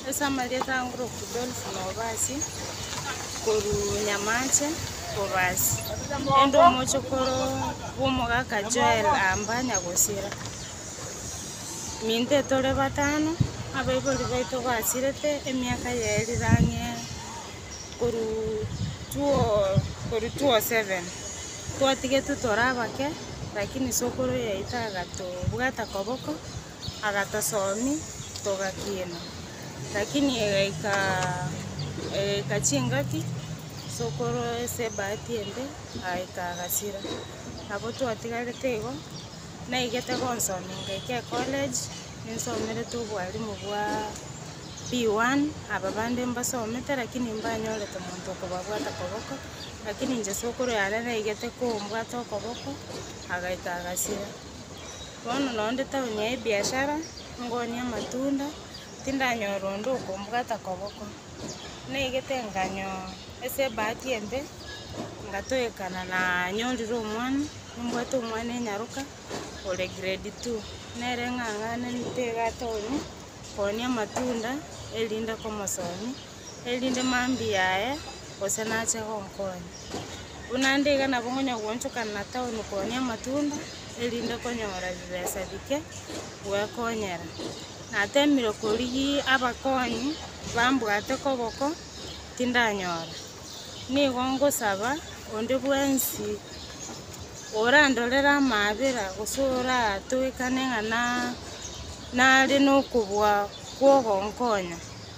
Ase amarieta a Ngorok Dolf Nobasi, korwa Nyamache kobasi, erinde omochokoro bw'omogaka Joel amba nyagosira. Minto etore batano, abaibori baito basirete emiaka ya erire ang'e korwa two- korwa two seven. Twatigetwe tore abake, lakini sokoro yaito agatobwata koboko, agatosomi togakiina, lakini egaika egaika chingaki sokorwa ase ebahati ende agaika agasira. Nabo twatigarete igo, naigete gonsomia ngaika ecollege, ninsomerete obwalimu bwa P one, aba bande mbasomete lakini mbanyorete omonto okobabwata koboko, lakini inche sokorwa yane naigete kombwata okoboko, agaika agasira. Bono noo nde town ya ebiashara, ngonia amatunda, tindanyora onde okombwata koboko. Naigete nkanyoo ase ebahati embe, ngatoekana na nyorire omwana, nimbwate omwana enyaroka, ore grade two, nere ng'ang'anenete igaa town, konia amatunda, erinde komosomia. erinde mambia aye, gose nache gonkonya. Buna ande iga nabo ngonya goonchokana na taoni koonia amatunda, erinde konyora bibesa bike gwekonyera. Nateemire korigia abakonyi bambwate koboko, tindanyora. Nigo ngosaba onde bwensi orandorere amaabera, gose oratoekane ng'a na- nare nokobua kw'ogonkonya.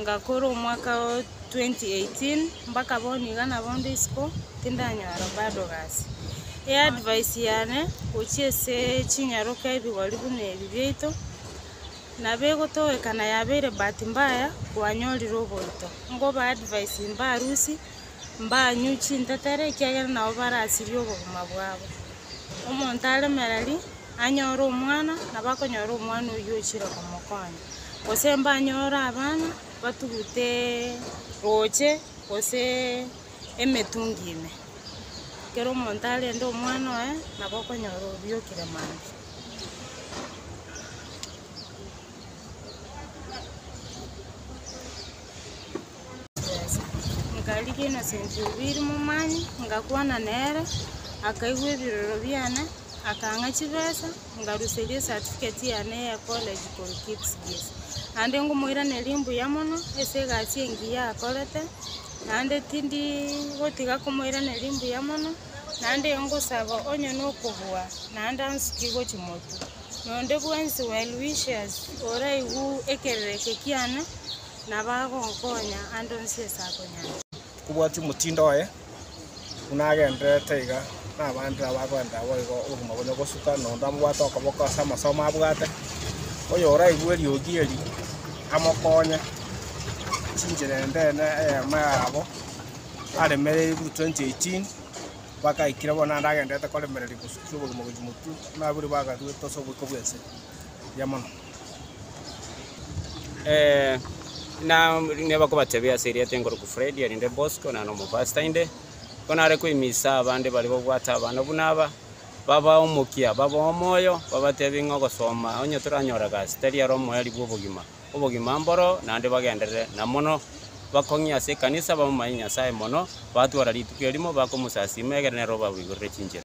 Ngakora omwaka o 2018 mpaka bono iga nabo nde isiko tindanyora bado gasi. E advice yane gochia ase chinyaroke ebigori buna ebi biaito nabo egotogekana yabeire bahati mbaya kwanyorire oborito. Nkoba advice mba arusi, mba anywe chintetere ekiagera nabo barasirie obogima bwabo. Omonto aremereri Anyore omwana, nabo akonyora omwana oyio ochire komokonya, gose mbanyore abana batugute roche gose emetungi ime. Ekero omonto arende omwana oye, nabo okonyora obiokire mambia. Yeso. Nkarigia Innocent Obiiri momanye, ngakwana nere, akaigwa ebiroro biane, akang'a chibesa, ngaruseria esatifiketi yane ya ecollege korwa Kipsigis. Naende ngomoiraneria mbuya mono ase egasi engiya akorete, naende tindi gotiga komoiraneria mbuya mono, naende ngosaba onye nokobua, naende ansuki gochia motwe. nonde bwensi Well wishers oraigwe ekerereke kiane, na bagonkonya ande onsi ase akonyara. Kobwatia omotindo oye, buna agendererete iga nabande nabo agoenderera boigo obogima bonya gosuka, na onde amobwate okoboko ase amasomo abwate. Oyoraigwe eriogi eri, amokonye chinchera endeene eyemo yabo, aremereirwe 2018. bagaikire bono naende agendererete koremereria gosukia obogima gochia motuo, buna abwo bagaruete ase oboiko bw'ense eria mono. Eh, na nigo bakobatebia ase erieta enkorokwa Fred erinde Bosco naro omopastor inde ko nare koimisa abande baria babwate abana buna aba babae omokia babae omoyo babatebie ng'a ogosoma onye toranyore egasi tari aro omoerio bw'obogima obogima mboro naende bagenderere, na mono bakong'ia ase ekanisa, bamomanye Nyasae mono, batwara rituko erimo, bakomosasiima, egere nere obaboigorere chinchera.